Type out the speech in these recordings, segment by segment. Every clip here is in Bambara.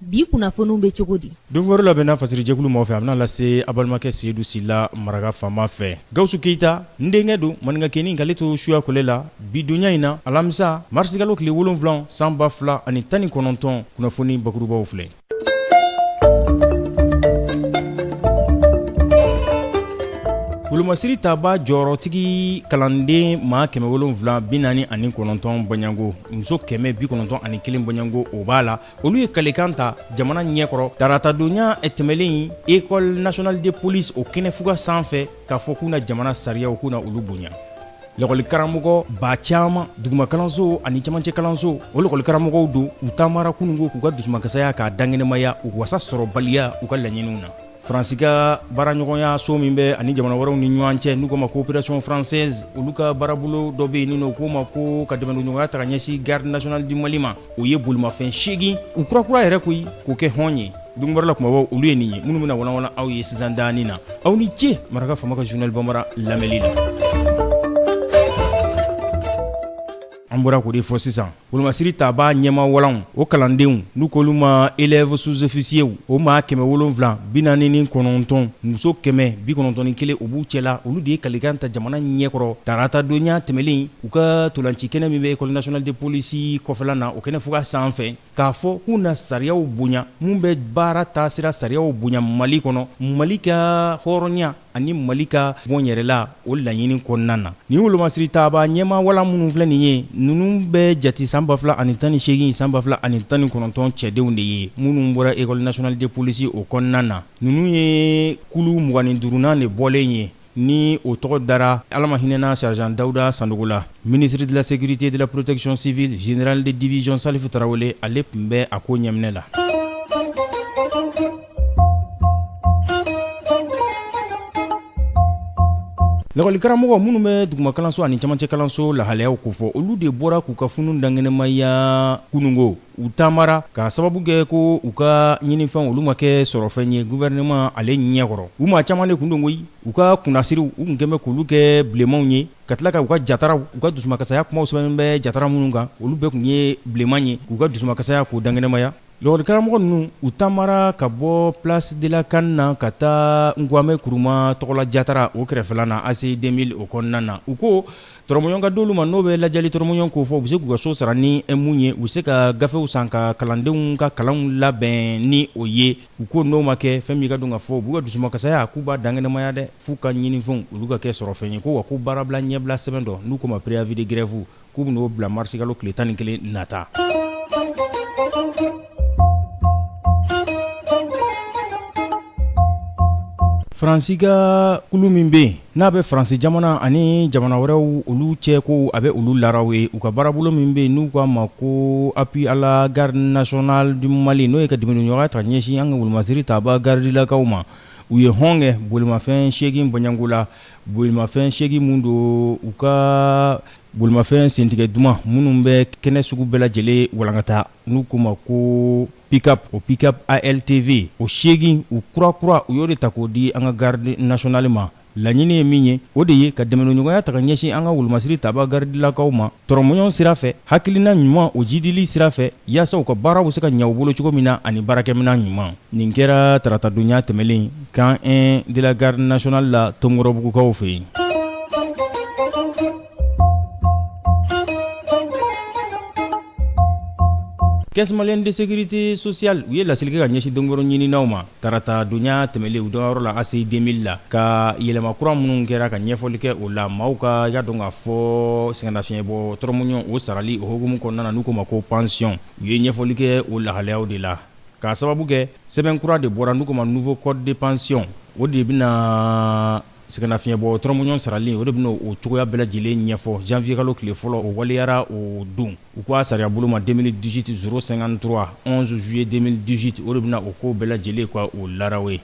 bi kunnafoniw bɛ cogo di don wɛrɛ labɛnna fasirijɛkulu maa fɛ a bɛna lase a balimakɛ seyidu sila maraka faama fɛ gawusu keyita n denkɛ don maninkakɛnin k'ale to suya kole la bi donya in na alamisa marisikalo tile wolonwula san ba fila ani tan ni kɔnɔntɔn kunnafoni bakurubaw filɛ wolomasiri taba jɔyɔrɔtigi kalanden maa kɛmɛ wolonwula bi naani ani kɔnɔntɔn baɲako muso kɛmɛ bi kɔnɔntɔn ani kelen baɲako o b'a la olu ye kalikan ta jamana ɲɛkɔrɔ taratadonya tɛmɛlen école nationale de police o kɛnɛfuga san fɛ k'a fɔ k'u na jamana sariyaw k'u na olu bonya lakɔlikaramɔgɔ maa caaman dugumakalanso ani camancɛ kalanso o lakɔlikaramɔgɔw don u taamara kunungo k'u ka dusumakasaya k'a dankɛnɛmaya u wasa sɔrɔbaliya u ka laɲiniw na Faransi ka baaraɲɔgɔnyaso min bɛ a ni jamana wɛrɛw ni ɲɔgɔn cɛ n'u k'o ma coopération française olu ka baarabolo dɔ bɛ yen n'u k'o ma ko ka dɛmɛdonɲɔgɔnya ta ka ɲɛsin garde nationale du Mali ma o ye bolimafɛn seegin u kurakura yɛrɛ koyi k'o kɛ hɔn ye don wɛrɛ la kumabaw olu ye nin ye minnu bɛna walanwalan aw ye sisan daani na aw ni ce maraka faama ka journal bambara lamɛnni na An bɔra k'o de fɔ sisan wolomasiri tabaa ɲɛmaa walanw o kalandenw n'u k'olu ma élèves sous-officiers o maa 749 muso 191 o b'u cɛla olu de ye kalikan ta jamana ɲɛkɔrɔ taratadonya tɛmɛlen in u ka ntolancikɛnɛ min bɛ école nationale de police kɔfɛla na o kɛnɛ fuga sanfɛ k'a fɔ k'u na sariyaw bonya min bɛ baara taasira sariyaw bonya Mali kɔnɔ Mali ka hɔrɔnya ani Mali ka bɔnyɛrɛla o laɲini kɔnɔna na. Nin wolomasiritaaba ɲɛmaa walan minnu filɛ nin ye, ninnu bɛ jati san 2018, san 2019 cɛdenw de ye, minnu bɔra École nationale de police o kɔnɔna na. Ninnu ye kulu mugan ni duurunan de bɔlen ye, ni o tɔgɔ dara Ala ma hinɛ na Sergent Dawuda Sanogo la. Ministre de la Sécurité et de la Protection civile, Général de division Salifu Tarawele, ale tun bɛ a ko ɲɛminɛ la. Lakɔlikaramɔgɔ minnu bɛ duguma kalanso ani camancɛ kalanso lahalayaw kofɔ olu de bɔra k'u ka funu dankɛnɛmaya kunungo u taamara k'a sababu kɛ ko u ka ɲinifɛn olu ma kɛ sɔrɔfɛn ye gouvernement ale ɲɛkɔrɔ u maa caman de kun don koyi u ka kunnasiriw u kun kɛlen bɛ k'olu kɛ bilenmanw ye ka tila ka u ka jataraw u ka dusumakasaya kumaw sɛbɛnnen bɛ jatara minnu kan olu bɛɛ kun ye bilenman ye k'u ka dusumakasaya k'u dankɛnɛmaya Lakɔlikaramɔgɔ ninnu u taamara ka bɔ place de la CAN na ka taa Nkwame Kuruma tɔgɔla jatara o kɛrɛfɛla na ACI 2000 o kɔnɔna na u ko tɔrɔmɔɲɔn ka di olu ma n'o bɛ lajɛli tɔrɔmɔɲɔn kofɔ u bɛ se k'u ka so sara ni min ye u bɛ se ka gafew san ka kalandenw ka kalanw labɛn ni o ye u ko n'o ma kɛ fɛn min ka dɔn ka fɔ u b'u ka dusumakasaya k'u b'a dankɛnɛmaya dɛ f'u ka ɲinifɛnw olu ka kɛ sɔrɔfɛn ye ko wa ko baarabila ɲɛbila sɛbɛn dɔ n'u k'o ma préavis de grève k'u bɛn'o bila marisikalo tile tan ni kelen nata faransi ka kulu min bɛ yen n'a bɛ faransi jamana ani jamana wɛrɛw olu cɛ ko a bɛ olu laraw ye u ka baarabolo min bɛ yen n'u k'a ma ko appui à la garde nationale du Mali n'o ye ka dɛmɛniɲɔgɔnya ta ɲɛsin an ka wolomasiri tabaa garidilakaw ma u ye hɔn kɛ bolimafɛn seegin bɔɲɔgɔnko la bolimafɛn seegin minnu don u ka bolimafɛn sentigɛ duman minnu bɛ kɛnɛ sugu bɛɛ lajɛlen walankata n'u k'u ma ko pickup o pickup ALTV o seegin u kura kura u y'o de ta k'o di an ka garde nationale ma laɲini ye min ye o de ye ka dɛmɛniɲɔgɔnya ta ka ɲɛsin an ka wolomasiri tabaa garidilakaw ma tɔrɔmɔɲɔgɔn sira fɛ hakilina ɲuman o jidili sira fɛ yaasa u ka baaraw bɛ se ka ɲɛ u bolo cogo min na ani baarakɛminɛn ɲuman nin kɛra taratadonya tɛmɛlen camp 1 de la garde nationale la Tomikɔrɔbugukaw fɛ yen caisse malienne de sécurité sociale u ye laseli kɛ ka ɲɛsin donkɔrɔ ɲininaw ma Taratadonya tɛmɛnlen u dagayɔrɔ la ACI 2000 la ka yɛlɛma kura minnu kɛra ka ɲɛfɔli kɛ o la maaw ka y'a dɔn k'a fɔ sɛgɛnnafiɲɛbɔ tɔrɔmɔɲɔgɔn o sarali o hukumu kɔnɔna na n'u k'o ma ko pansiyɔn u ye ɲɛfɔli kɛ o lahalayaw de la k'a sababu kɛ sɛbɛn kura de bɔra n'u k'o ma nouveau code de pension o de bɛna na Sɛgɛnnafiɲɛbɔ tɔrɔmɔɲɔgɔn sarali o de bɛna o cogoya bɛɛ lajɛlen ɲɛfɔ janvier kalo tile fɔlɔ o waleyara o don u k'a sariya bolo ma 2018 053 11 juillet 2018 o de bɛna o ko bɛɛ lajɛlen ka o laraw ye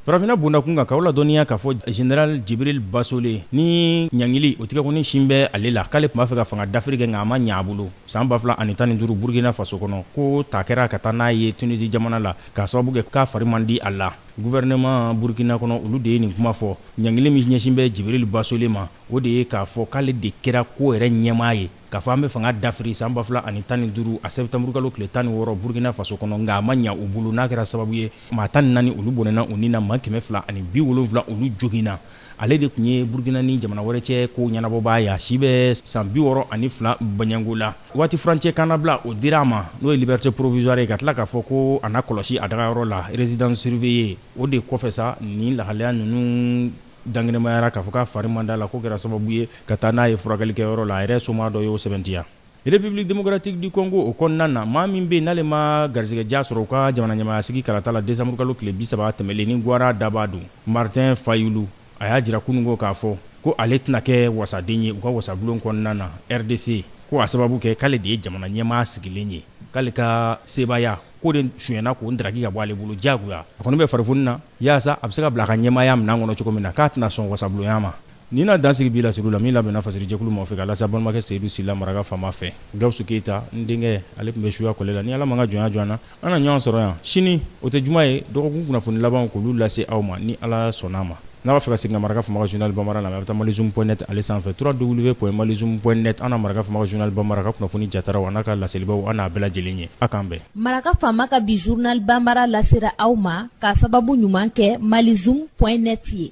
farafinina bondakun kan k'aw ladɔnniya k'a fɔ général Jibril Basole ni ɲangili o tɛgɛkɔni sin bɛ ale la k'ale tun b'a fɛ ka fanga dafiri kɛ nka a ma ɲɛ a bolo San 2000 ani tan ni duuru Burukina faso kɔnɔ, k'o ta kɛra ka taa n'a ye Tunisie jamana la, k'a sababu kɛ k'a fari man di a la. Gouvernement Burukina kɔnɔ, olu de ye nin kuma fɔ. Ɲangili min ɲɛsin bɛ Jibril Basole ma, o de ye k'a fɔ k'ale de kɛra ko yɛrɛ ɲɛmaa ye, k'a fɔ an bɛ fanga dafiri san 2000 ani tan ni duuru a septembre kalo tile tan ni wɔɔrɔ Burukina faso kɔnɔ, nka a ma ɲɛ u bolo, n'a kɛra sababu ye maa tan ni naani olu bɔnɛna u ni na, maa kɛmɛ fila ani bi wolonwula olu joginna. Ale de tun ye Burukina ni jamana wɛrɛ cɛ kow ɲɛnabɔbaa ye, a si bɛ san 62 bɔɲɔgɔnko la. Waati furancɛ kannabila, o dira a ma, n'o ye liberté provisoire ye, ka tila k'a fɔ ko a na kɔlɔsi a dagayɔrɔ la, résidence surveillée, o de kɔfɛ sa, nin lahalaya ninnu dankɛnɛmayara, k'a fɔ k'a fari man d'a la, k'o kɛra sababu ye ka taa n'a ye furakɛlikɛyɔrɔ la, a yɛrɛ somaa dɔ y'o sɛbɛntiya. République démocratique du Congo o kɔnɔna na, maa min bɛ yen n'ale ma garisɛgɛdiya sɔrɔ u ka jamanaɲɛmaayasigi kalata la décembre kalo tile 30 tɛmɛlen ni Guwara dabaa don, Martin Fayulu, a y'a jira kunungo k'a fɔ ko ale tɛna kɛ wasaden ye u ka wasabulon kɔnɔna na RDC, ko a sababu kɛ k'ale de ye jamanaɲɛmaa sigilen ye, k'ale ka sebaaya ko de sonyɛna k'o ndaraki ka bɔ ale bolo diyagoya, a kɔni bɛ farifoni na yaasa a bɛ se ka bila a ka ɲɛmaaya minɛn kɔnɔ cogo min na, k'a tɛna sɔn wasabulonya ma. Nin na dan sigi bi laseliw la min labɛnna Fasirijɛkulu maaw fɛ ka lase an balimakɛ Seyidu Sila maraka faama fɛ Gawusu Keyita n denkɛ ale tun bɛ suya kɔlɛ la ni Ala ma an ka jɔnya jɔ an na an na ɲɔgɔn sɔrɔ yan sini o tɛ juma ye dɔgɔkun kunnafoni labanw k'olu lase aw ma ni Ala sɔnn'a ma n'a b'a fɛ ka segin ka maraka faama ka journal Banbara lamɛn a bɛ taa malizoom point net ale sanfɛ www.malizoom point net an na maraka faama ka journal Banbara ka kunnafoni jataraw an'a ka laselibaaw an n'a bɛɛ lajɛlen ye a k'an bɛn. Maraka faama ka bi journal Banbara lasera aw ma k'a sababu ɲuman kɛ malizoom point net ye.